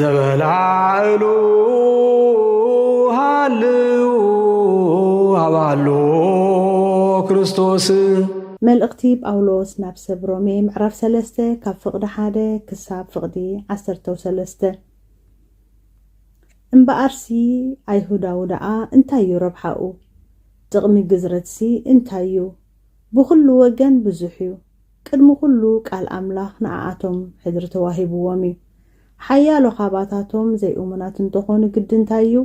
ዘበላዕሉ ሃልው ኣባሉ ክርስቶስ መልእኽቲ ጳውሎስ ናብ ሰብ ሮሜ ምዕራፍ ሰለስተ ካብ ፍቕዲ ሓደ ክሳብ ፍቕዲ ዓሰርተው ሰለስተ እምበኣርሲ ኣይሁዳዊ ደኣ እንታይ እዩ ረብሓኡ? ጥቕሚ ግዝረትሲ እንታይ እዩ? ብዅሉ ወገን ብዙሕ እዩ። ቅድሚ ዅሉ ቃል ኣምላኽ ንዓኣቶም ሕድሪ ተዋሂብዎም እዩ። ሓያሎ ኻባታቶም ዘይእሙናት እንተ ዀኑ ግዲ እንታይ እዩ?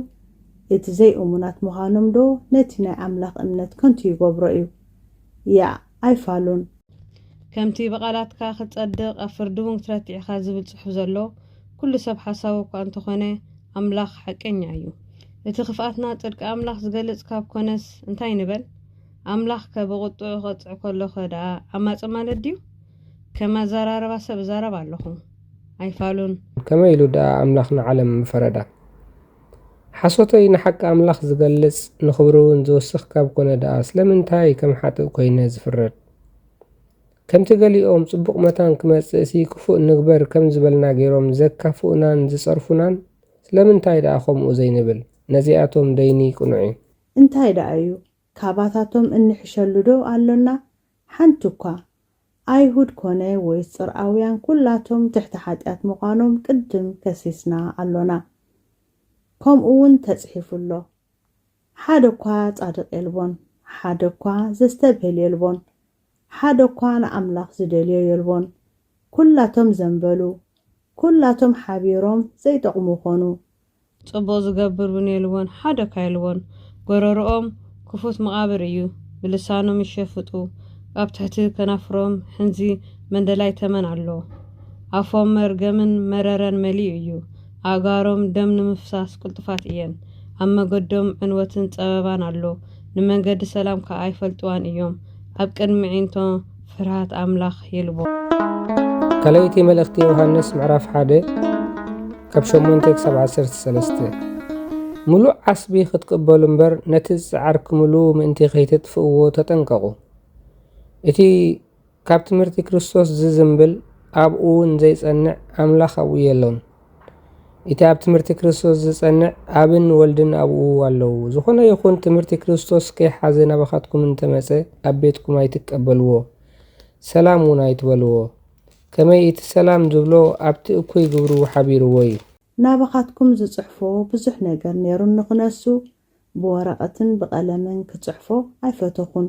እቲ ዘይእሙናት ምዃኖምዶ ነቲ ናይ ኣምላኽ እምነት ከንቱ ይገብሮ እዩ? ያእ፣ ኣይፋሉን! ከምቲ ብቓላትካ ኽትጸድቕ ኣብ ፍርዲ እውን ክትረትዕ ኢኻ ዝብል ጽሑፍ ዘሎ፣ ኵሉ ሰብ ሓሳዊ እኳ እንተ ዀነ፣ ኣምላኽ ሓቀኛ እዩ። እቲ ኽፍኣትና ጽድቂ ኣምላኽ ዝገልጽ ካብ ኰነስ እንታይ ንበል? ኣምላኽ ከ ብቁጥዑ ክቐጽዕ ከሎ ከ ደኣ ዓማጺ ማለት ድዩ? ከም ኣዘራርባ ሰብ እዛረብ ኣለኹ። ኣይፋሉን። ከመይ ኢሉ ደኣ ኣምላኽ ንዓለም ምፈረዳ? ሓሶተይ ንሓቂ ኣምላኽ ዝገልጽ ንኽብሪውን ዝውስኽ ካብ ኮነ ደኣ ስለምንታይ ከም ሓጥእ ኮይነ ዝፍረድ? ከምቲ ገሊኦም ጽቡቕ መታን ክመጽእሲ ክፉእ ንግበር ከም ዝበልና ገይሮም ዘካፍኡናን ዝጸርፉናን ስለምንታይ ደኣ ከምኡ ዘይንብል? ነዚኣቶም ደይኒ ቅኑዕዩ። እንታይ ደኣ እዩ ካባታቶም እንሕሸሉዶ ኣሎና? ሓንቲ እኳ! ኣይሁድ ኰነ ወይስ ጽርኣውያን ኵላቶም ትሕቲ ሓጢኣት ምዃኖም ቅድም ከሲስና ኣሎና። ከምኡውን ተጽሒፉ ኣሎ፣ ሓደ እኳ ጻድቕ የልቦን፣ ሓደ እኳ ዘስተብህል የልቦን፣ ሓደ እኳ ንኣምላኽ ዝደልዮ የልቦን፣ ኵላቶም ዘንበሉ፣ ኵላቶም ሓቢሮም ዘይጠቕሙ ዀኑ፣ ጽቡቅ ዝገብር ውን የልቦን ሓደ እካ የልቦን ጎረርኦም ክፉት መቃብር እዩ ብልሳኖም ይሸፍጡ ኣብ ትሕቲ ከናፍሮም ሕንዚ መንደላይ ተመን ኣሎ ኣፎም መርገምን መረረን መሊኡ እዩ ኣእጋሮም ደም ንምፍሳስ ቅልጡፋት እየን ኣብ መገዶም ዕንወትን ጸበባን ኣሎ ንመንገዲ ሰላም ከኣ ኣይፈልጥዋን እዮም ኣብ ቅድሚ ኣዒንቶም ፍርሃት ኣምላኽ ይልቦ። ካልኣይቲ መልእኽቲ ዮሃንስ ምዕራፍ ሓደ ካብ ሸሞንተ ክሳብ ዓሰርተ ሰለስተ ምሉእ ዓስቢ ክትቅበሉ እምበር ነቲ ዝጸዓርክምሉ ምእንቲ ከይተጥፍእዎ ተጠንቀቑ። እቲ ካብ ትምህርቲ ክርስቶስ ዝዝምብል ኣብኡ ዘይጸንዕ ኣምላኽ ኣብኡ የሎን። እቲ ኣብ ትምህርቲ ክርስቶስ ዝጸንዕ ኣብን ወልድን ኣብኡ ኣለዉ። ዝኾነ ይኹን ትምህርቲ ክርስቶስ ከይሓዘ ናባኻትኩም እንተመጸ ኣብ ቤትኩም ኣይትቀበልዎ፣ ሰላም እውን ኣይትበልዎ። ከመይ እቲ ሰላም ዝብሎ ኣብቲ እኩይ ግብሩ ሓቢርዎ እዩ። ናባኻትኩም ዝጽሕፎ ብዙሕ ነገር ነይሩኒ ክነሱ፣ ብወረቐትን ብቐለምን ክጽሕፎ ኣይፈተኹን።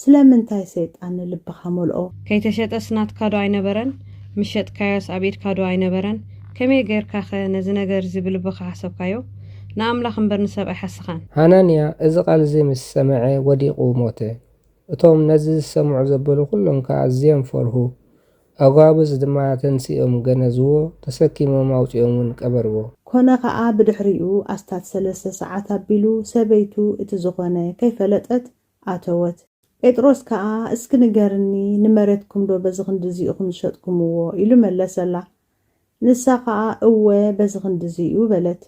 ስለምንታይ ሰይጣን ንልብኻ መልኦ? ከይተሸጠስ ናትካ ዶ ኣይነበረን? ምስ ሸጥካዮስ ኣብ ኢድካ ዶ ኣይነበረን? ከመይ ገይርካኸ ነዚ ነገር እዚ ብልብኻ ሓሰብካዮ? ንኣምላኽ እምበር ንሰብ ኣይሓሰኻን። ሃናንያ እዚ ቓል እዚ ምስ ሰምዐ፣ ወዲቑ ሞተ። እቶም ነዚ ዝሰምዑ ዘበሉ ዅሎም ከኣ ኣዝዮም ፈርሁ። ኣጓብዝ ድማ ተንሲኦም ገነዝዎ፣ ተሰኪሞም ኣውጺኦምውን ቀበርዎ። ኰነ ኸኣ፣ ብድሕሪኡ ኣስታት ሰለስተ ሰዓት ኣቢሉ፣ ሰበይቱ እቲ ዝዀነ ከይፈለጠት ኣተወት። ጴጥሮስ ከኣ እስኪ ንገርኒ ንመሬትኩምዶ በዚ ክንድዚ ኢኹም ዝሸጥኩምዎ? ኢሉ መለሰላ። ንሳ ከኣ እወ በዚ ክንድዚ እዩ በለት።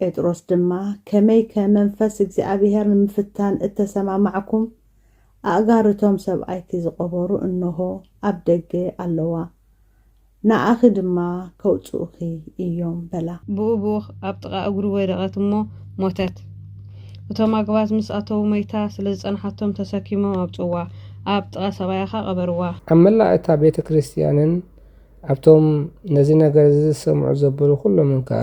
ጴጥሮስ ድማ ከመይከ መንፈስ እግዚኣብሄር ንምፍታን እተሰማማዕኩም? ኣእጋር እቶም ሰብኣይቲ ዝቐበሩ እንሆ ኣብ ደገ ኣለዋ። ንኣኺ ድማ ከውጽኡኺ እዮም በላ። ብኡብኡ ኣብ ጥቓ እግሩ ወደቐት እሞ ሞተት። እቶም ኣግባዝ ምስ ኣተዉ መይታ ስለ ዝጸንሓቶም ተሰኪሞም ኣውጽእዋ፣ ኣብ ጥቓ ሰብኣያ ኸኣ ቐበርዋ። ኣብ መላእ እታ ቤተ ክርስትያንን ኣብቶም ነዚ ነገር እዚ ዝሰምዑ ዘበሉ ዅሎምን ከኣ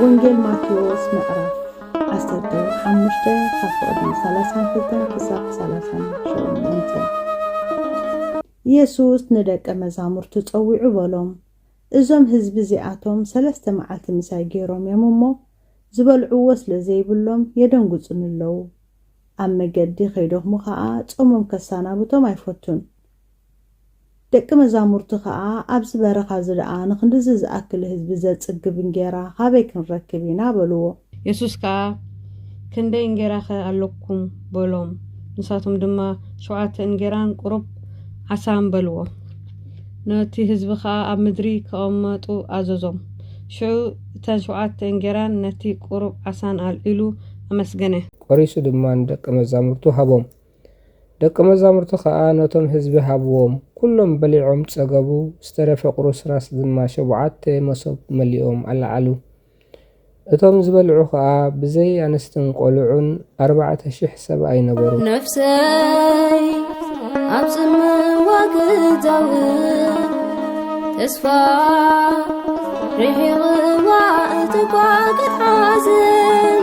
ወንጌል ማቴዎስ ምዕራፍ ዓሰርተ ሓሙሽተ ካብ ፍቕዲ ሰላሳን ክልተን ክሳብ ሰላሳን ሸሞንተ ኢየሱስ ንደቀ መዛሙርቱ ጸዊዑ በሎም፣ እዞም ህዝቢ እዚኣቶም ሰለስተ መዓልቲ ምሳይ ገይሮም እዮም እሞ፣ ዝበልዕዎ ስለ ዘይብሎም የደንግጹኒ ኣለዉ። ኣብ መገዲ ኸይደኽሙ ኸኣ ጾሞም ከሳናብቶም ኣይፈቱን። ደቂ መዛሙርቱ ኸኣ ኣብዚ በረኻ እዚ ደኣ ንኽንድዚ ዝኣክል ህዝቢ ዘጽግብ እንጌራ ኻበይ ክንረክብ ኢና? በልዎ። የሱስ ከኣ ክንደይ እንጌራኸ ኣሎኩም? በሎም። ንሳቶም ድማ ሸውዓተ እንጌራን ቁሩብ ዓሳን በልዎ። ነቲ ህዝቢ ኸኣ ኣብ ምድሪ ኪቐመጡ ኣዘዞም። ሽዑ እተን ሸውዓተ እንጌራን ነቲ ቁሩብ ዓሳን ኣልዒሉ ኣመስገነ። ቆሪሱ ድማ ንደቀ መዛሙርቱ ሃቦም። ደቀ መዛሙርቱ ከኣ ነቶም ህዝቢ ሃብዎም፣ ኩሎም በሊዖም ጸገቡ፣ ዝተረፈ ቁርስራስ ድማ ሸቡዓተ መሶብ መሊኦም ኣለዓሉ። እቶም ዝበልዑ ከኣ ብዘይ ኣንስትን ቆልዑን ኣርባዕተ ሽሕ ሰብኣይ ነበሩ። ነፍሰይ ኣብ ጽምዋ ክዛውር ተስፋ ርሒቕዋ እትጓግሕ ሓዘን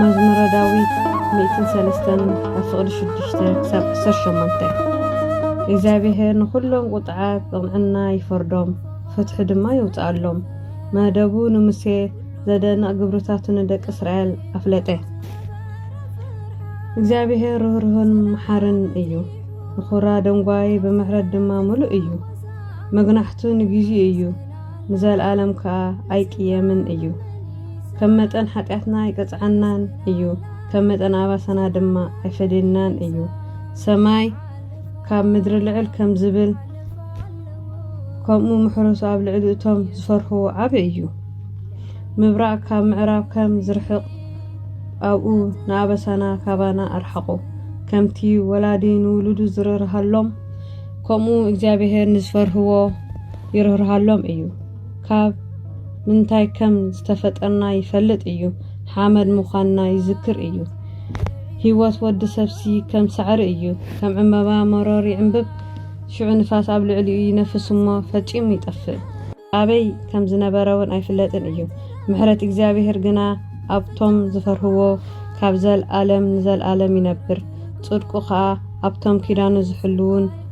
መዝሙረ ዳዊት ሚእትን ሰለስተን ካብ ፍቕዲ ሽዱሽተ ክሳብ ዓሰርተ ሸሞንተ እግዚኣብሔር ንዅሎም ቁጥዓት ብቕንዕና ይፈርዶም ፍትሒ ድማ የውፅኣሎም መደቡ ንሙሴ ዘደንቕ ግብርታቱ ንደቂ እስራኤል ኣፍለጠ እግዚኣብሔር ርህርህን መሓርን እዩ ንዅራ ደንጓይ ብምሕረት ድማ ምሉእ እዩ መግናሕቱ ንግዜኡ እዩ ንዘልኣለም ከኣ ኣይቅየምን እዩ። ከም መጠን ሓጢኣትና ኣይቀጽዓናን እዩ፣ ከም መጠን ኣባሳና ድማ ኣይፈድየናን እዩ። ሰማይ ካብ ምድሪ ልዕል ከም ዝብል፣ ከምኡ ምሕረቱ ኣብ ልዕሊ እቶም ዝፈርህዎ ዓቢ እዩ። ምብራቕ ካብ ምዕራብ ከም ዝርሕቕ፣ ኣብኡ ንኣበሳና ካባና ኣርሓቑ። ከምቲ ወላዲ ንውሉዱ ዝርርሃሎም፣ ከምኡ እግዚኣብሄር ንዝፈርህዎ፣ ይርህርሃሎም እዩ ካብ ምንታይ ከም ዝተፈጠርና ይፈልጥ እዩ ሓመድ ምዃንና ይዝክር እዩ ህይወት ወዲ ሰብሲ ከም ሳዕሪ እዩ ከም ዕምበባ መሮር ይዕምብብ ሽዑ ንፋስ ኣብ ልዕሊኡ ይነፍስ እሞ ፈጺሙ ይጠፍእ ኣበይ ከም ዝነበረ እውን ኣይፍለጥን እዩ ምሕረት እግዚኣብሔር ግና ኣብቶም ዝፈርህዎ ካብ ዘልኣለም ንዘልኣለም ይነብር ጽድቁ ኸኣ ኣብቶም ኪዳኑ ዝሕልዉን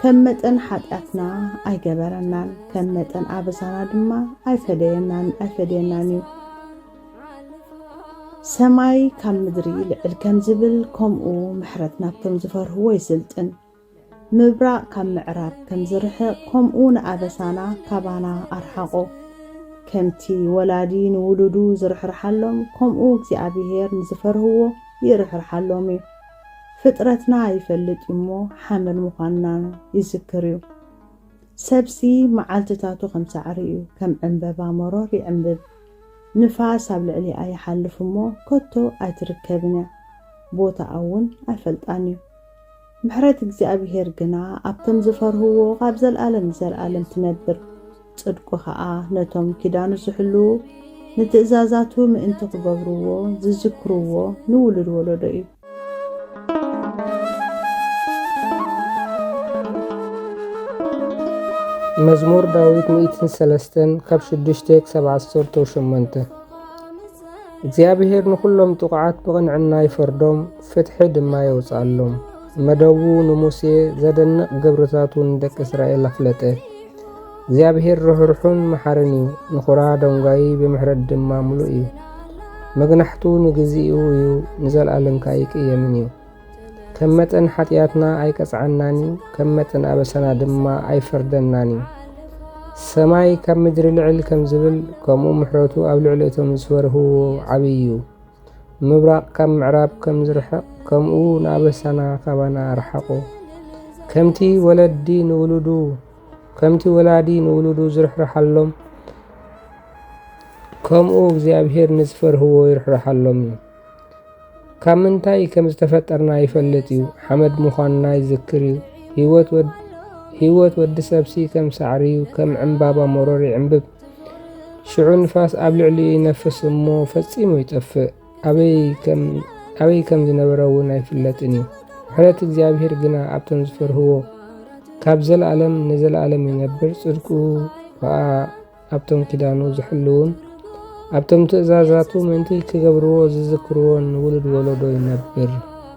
ከም መጠን ሓጢኣትና ኣይገበረናን ከም መጠን ኣበሳና ድማ ኣይፈደየናን ኣይፈደየናን እዩ ሰማይ ካብ ምድሪ ልዕል ከም ዝብል ከምኡ ምሕረት ናብቶም ዝፈርህዎ ይስልጥን ምብራቕ ካብ ምዕራብ ከም ዝርሕቕ ከምኡ ንኣበሳና ካባና ኣርሓቖ ከምቲ ወላዲ ንውሉዱ ዝርሕርሓሎም ከምኡ እግዚኣብሄር ንዝፈርህዎ ይርሕርሓሎም እዩ ፍጥረትና ይፈልጥ እዩ እሞ ሓመድ ምዃንና ይዝክር እዩ። ሰብሲ መዓልትታቱ ከም ሳዕሪ እዩ፣ ከም ዕምበባ መሮር ይዕምብብ። ንፋስ ኣብ ልዕሊኣ ይሓልፍ እሞ ከቶ ኣይትርከብን እያ፣ ቦታኣ እውን ኣይፈልጣን እዩ። ምሕረት እግዚኣብሄር ግና ኣብቶም ዝፈርህዎ ኻብ ዘለኣለም ንዘለኣለም ትነብር። ጽድቁ ኸኣ ነቶም ኪዳኑ ዚሕልዉ፣ ንትእዛዛቱ ምእንቲ ኺገብርዎ፣ ዚዝክርዎ ንውሉድ ወለዶ እዩ። መዝሙር ዳዊት ሚእትን ሰለስተን ካብ ሽዱሽተ ክሳብ ዓሰርተው ሸሞንተ እግዚኣብሔር ንዅሎም ጥቑዓት ብቕንዕና ይፈርዶም፣ ፍትሒ ድማ የውጽኣሎም። መደቡ ንሙሴ ዘደንቕ ግብርታቱ ንደቂ እስራኤል ኣፍለጠ። እግዚኣብሔር ርኅሩኅን መሓርን እዩ፣ ንኹራ ደንጓይ ብምሕረት ድማ ምሉእ እዩ። መግናሕቱ ንግዚኡ እዩ፣ ንዘለዓለም ከ ኣይቅየምን እዩ። ከም መጠን ሓጢኣትና ኣይቀጽዓናን እዩ፣ ከም መጠን ኣበሳና ድማ ኣይፈርደናን እዩ። ሰማይ ካብ ምድሪ ልዕል ከም ዝብል ከምኡ ምሕረቱ ኣብ ልዕሊ እቶም ዝፈርህዎ ዓብዪ እዩ። ምብራቕ ካብ ምዕራብ ከም ዝርሕቕ ከምኡ ንኣበሳና ካባና ኣርሓቑ። ከምቲ ወለዲ ንውሉዱ ከምቲ ወላዲ ንውሉዱ ዝርሕርሓሎም ከምኡ እግዚኣብሔር ንዝፈርህዎ ይርሕርሓሎም እዩ። ካብ ምንታይ ከም ዝተፈጠርና ይፈልጥ እዩ፣ ሓመድ ምዃንና ይዝክር እዩ። ህይወት ወዲ ሰብሲ ከም ሳዕሪ እዩ፣ ከም ዕምባባ መሮር ይዕምብብ። ሽዑ ንፋስ ኣብ ልዕሊኡ ይነፍስ እሞ ፈጺሙ ይጠፍእ፣ ኣበይ ከም ዝነበረ እውን ኣይፍለጥን እዩ። ምሕረት እግዚኣብሔር ግና ኣብቶም ዝፈርህዎ ካብ ዘለኣለም ንዘለኣለም ይነብር፣ ጽድቁ ከኣ ኣብቶም ኪዳኑ ዝሕልውን ኣብቶም ትእዛዛቱ ምእንቲ ክገብርዎ ዝዝክርዎን ውሉድ ወለዶ ይነብር።